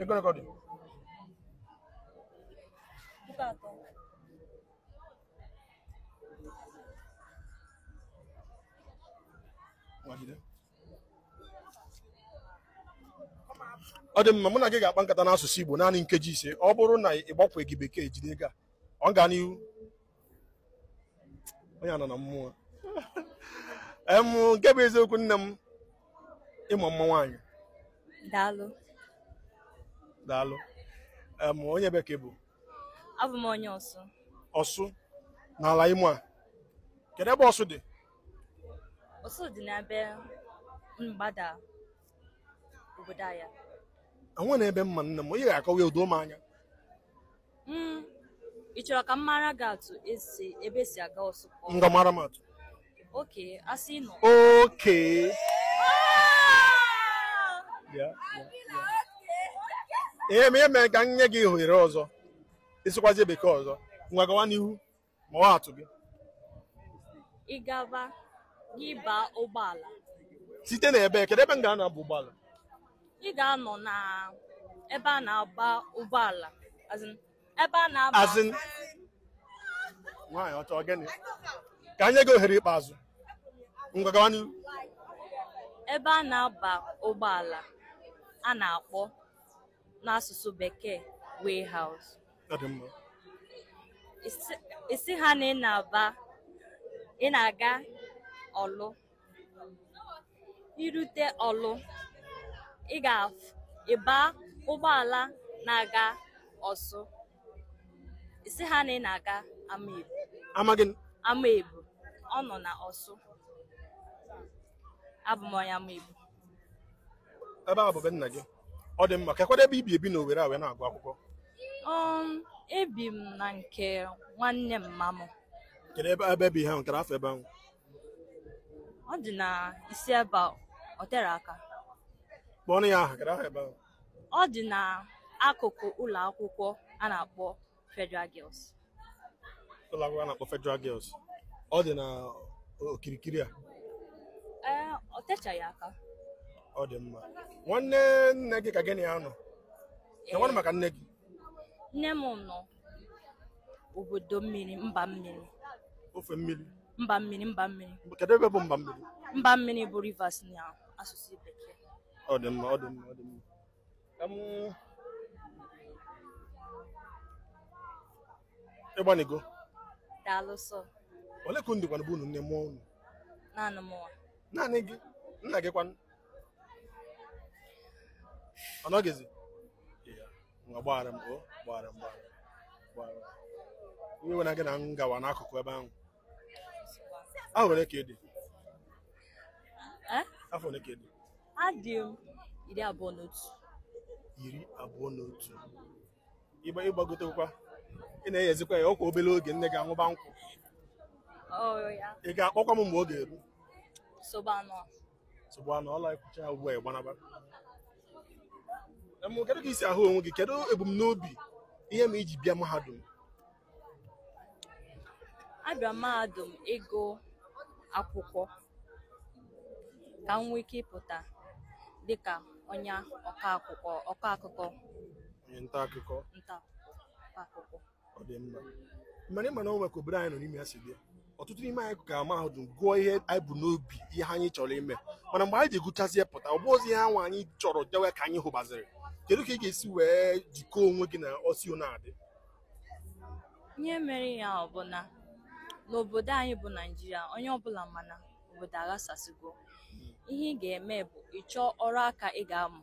Ego ole ka ọ dị. Puku atọ. ọ dị mma mụ na gị ga-akpa nkata n'asụsụ Igbo naanị nkeji ise ọ bụrụ na ị gbakwaghị bekee jide ego a ọ gaa n'ihu onye anọ na mmụọ em nke bụ eziokwu nne m ị ma mma nwaanyị daalụ daalụ em onye ebee ka ị bụ abụ m onye ọsụ ọsụ n'ala imo a kedu ebe ọsụ dị ọsụ dị n'ebe mgbada obodo ya enwe na ebe mma nne m onye ga-akọwa ya o doo m anya Mm, ị chọrọ ka m mara gị atụ e si ebe e si aga ọsụ okay Ngwa mara m atụ. okay a sị na Okay. Yeah, yeah, yeah. Ihe m ga-eme ka m nye gị ohere ọzọ. Ị sụkwazi bekee ọzọ. Ngwa gawa n'ihu. maa atụ gị ị gaba gị baa ụgbọala site na ebe kedu ebe m ga-anọ baa ụgbọala ị ga-anọ na ebe a na-aba ụgbọala as in, ebe a na-aba as in nwaanyị ọcha ọ gịnị ka anyị nye gị ohere ikpeazụ ngwa gawa n'ihu ebe a na-aba ụgbọala a na-akpọ n'asụsụ bekee warehouse Ọ dị mma. Ị sị- ị sị ha na ị na-aba ị na-aga ọlụ i rute ọlụ ị ga-aba ụgbọala na-aga ọsụ ị sị ha na ị na-aga Amaebu Amaghị m. Amaebu ọ nọ na ọsụ abụ m onye Amaebu ebe a bụ be nna gị ọ dị mma kekwanụ ebe i bi ebi na Owerri a wee na-agụ akwụkwọ Um, ebi m na nke nwanne mma m kedu ebe i bi ahụ kedu afa ebe ahụ ọ dị na isi ebe a, ọ tere aka kpọọnụ ya aha kedu aha ebe ahụ ọ dị na akụkụ ụlọ akwụkwọ a na-akpọ Federal Girls ụlọ akwụkwọ a na-akpọ Federal Girls ọ dị na okirikiri a ee ọ techaghị aka ọ dị mma nwanne nne gị ka gị na ya nọ Ee, nwanne maka nne gị nne m nọ obodo mmiri mba mmiri ofe mmiri mba mmiri mba mmiri kedu ebe bụ mba mmiri mba mmiri bụ Rivers na asụsụ bekee ọ dị mma ọ dị mma ọ dị mma ị gbanịgo daalụ sọ ole ka unu dịkwanụ bụ unu nne mụọ unu naanị mụnwa naanị gị nna gị kwanụ ọ nọghịzi Ya, ngwa gbaghara m o gbaghara m gbaghara m, gbaghara m. iwe ewena gị na m gawa n'akụkụ ebe ahụ a nwere ka ị dị afọ ole ka ị dị adị m iri abụọ na otu iri abụọ na otu ị gba ị gbagotekwa ị na-eyezikwa ya ọkwa obere oge nne gị aṅụba nkwụ ị ga-akpọkwa m mgbe ọ ga-eru nsogbu anọrọ e kwucha ya ugbu a ị gbanaba kedu ka i si ahụ onwe gị kedu ebumnobi ihe mere i ji bịa mahadum abịa m mahadum ịgụ akwụkwọ ka m nwee ike ịpụta dịka onye ọkọ akụkọ ọkọ akụkọ onye nta akụkọ nta akụkọ ọ dị mma mana ị ma na o nwe ka obodo anyị nọ n'ime ya si bịa ọtụtụ n'ime anyị gaa mahadum gụọ ihe anyị bu n'obi ihe anyị chọrọ ime mana mgbe anyị ji gụchazi ya pụta ọ bụrọzi ihe anwa anyị chọrọ dewe ka anyị hụbaziri kedu ka ị ga-esi wee jikọọ onwe gị na o si na-adị ihe mere ihe ahụ bụ na n'obodo anyị bụ naijiria onye ọbụla ma na obodo aghasasịgo ihe ị ga-eme bụ ị chọọ ọrụ aka ị ga-amụ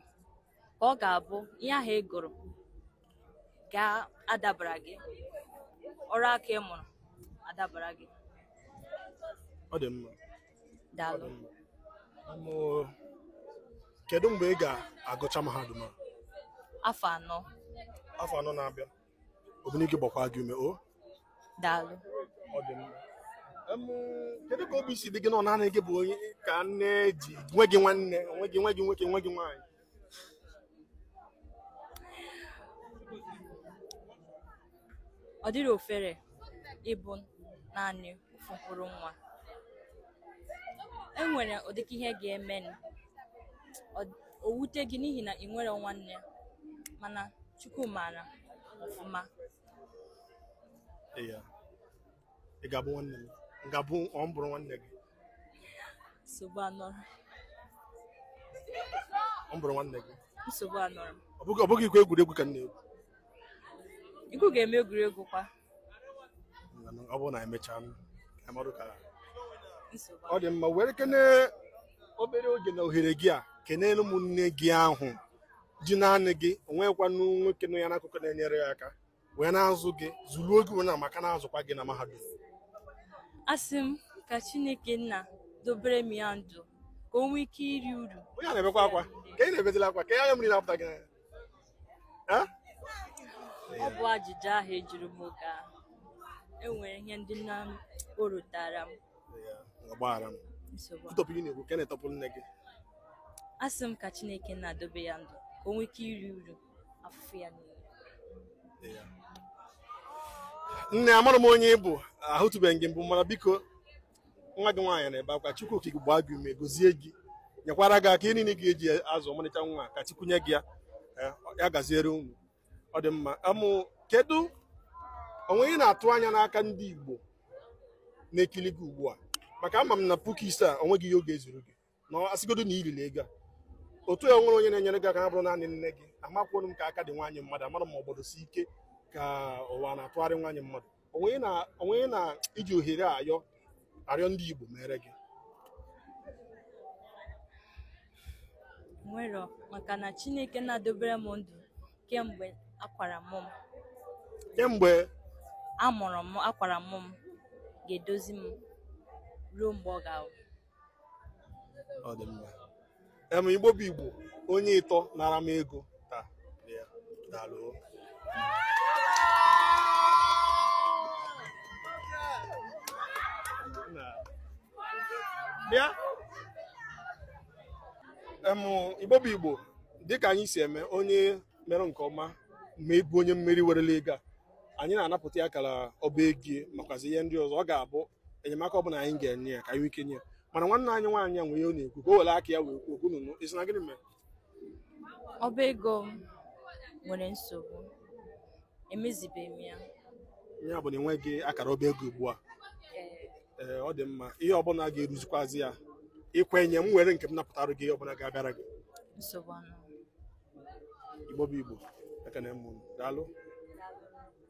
ka ọ ga-abụ ihe ahụ ị gụrụ ga-adabara gị ọrụ aka ị mụrụ adabara gị ọ dị mma daalụ Ọm, kedu mgbe ị ga-agụcha mahadum a afọ anọ afọ anọ na-abịa Obinigwe gbakwa gị ume o daalụ ọ dị mma Em, kedu ka obi si dị gị na ọ naanị gị bụ onye ka nne ji nweghị nwanne nweghị nweghị nwoke nweghị nwaanyị ọ dịrọ ofere ịbụ naanị ofu mkpụrụ nwa e nwere ụdị ka ihe ga-eme nụ. Ọ- o wute gị n'ihi na i nwerọ nwanne mana chukwu maara ọfụma Yeah. ị ga-abụ nwanne m m ga-abụ ọ m bụrụ nwanne gị nsogbu anọrọ ọ m bụrụ nwanne gị nsogbu anọrọ ọ bụghị ọ bụghịkwa egwuregwu ka m na-egwu ikwu ga-eme egwuregwu kwa Mana ọ bụrụ na emechaa m ka anyị marụ ka nsogbu ọ dị mma werekene obere oge na ohere gị a kenere m nne gị ahụ ji naanị gị o nwekwanụ nwoke nọ ya n'akụkụ na-enyere ya aka wee na-azụ gị zụruo gị wee na maka na-azụkwa gị na mahadum asị m ka chineke nna dobere m ya ndụ ka o nwee ike iri uru onye a na-ebekwa akwa ka ị na-ebetela akwa ka ya anya mmiri na-apụta gị n'anya Eh? ọ bụ ajụjụ ahụ ị jụrụ m oge ahụ enwere ihe ndị nna m o rutara m Ya, gbaghara m nsogbu a. tụtọpụ ihe na-ekwu ka ị na-etọpụ nne gị asị m ka chineke nna dobe ya ndụ ka o nwee ike iri uru afụfụ ya niile nne amara m onye ị bụ ahụtụbeghị gị mbụ mana biko nwa gị nwaanyị na-ebe akwa chukwu okike gbaa gị ume gozie gị nyekwara gị aka ihe niile ị ga-eji azụ ọmarịcha nwa ka chukwu nye gị ya eh, ya gaziere unu ọ dị mma ọm kedu o nwe ihe ị na-atụ anya n'aka ndị Igbo na-ekili gị ugbu a maka ama m na puku ise a o nweghị ihe ọ ga-ezuru gị na a sịgodu na i riri ego a otu ya nwere onye na-enyere gị aka na bụrụ naanị nne gị amakwu m ka agadi nwaanyị mmadụ amara ma obodo si ike ka ụwa na-atụgharị nwaanyị mmadụ onwe na onwe na iji ohere a ayọ arịọ ndị Igbo meere gị o nwerọ maka na Chineke na-edobere m ndụ kemgbe akwara mụ m kemgbe a mụrụ m akwara mụ m ga-edozi m ruo mgbe ọ ga-awụ ọ dị mma em igbo bụ igbo onye ịtọ nara m ego taa ya daalụ bịa em igbo bụ igbo dịka anyị si eme onye mere nke ọma ma ịbụ onye mmeri werela ego a anyị na-anapụta ya akara ọba ego makwazi ihe ndị ọzọ ọ ga-abụ enyemaka ọ bụla anyị ga-enye ya ka anyị nwee ike nye mana nwanne anyị nwaanyị a nwere ihe ọ na-ekwu ka o were aka ya wee kwuo okwu unu nụ ị sị na gịnị mere ọba ego m nwere nsogbu emezibeghị m ya ya bụ na i nweghị akara ọba ego ugbu a ee ọ dị mma ihe ọbụla ga-eruzikwazi ya i kwenye m were nke m napụtara gị ihe ọbụla ga-abịara gị nsogbu anọ igbo bụ igbo ekene m unu daalụ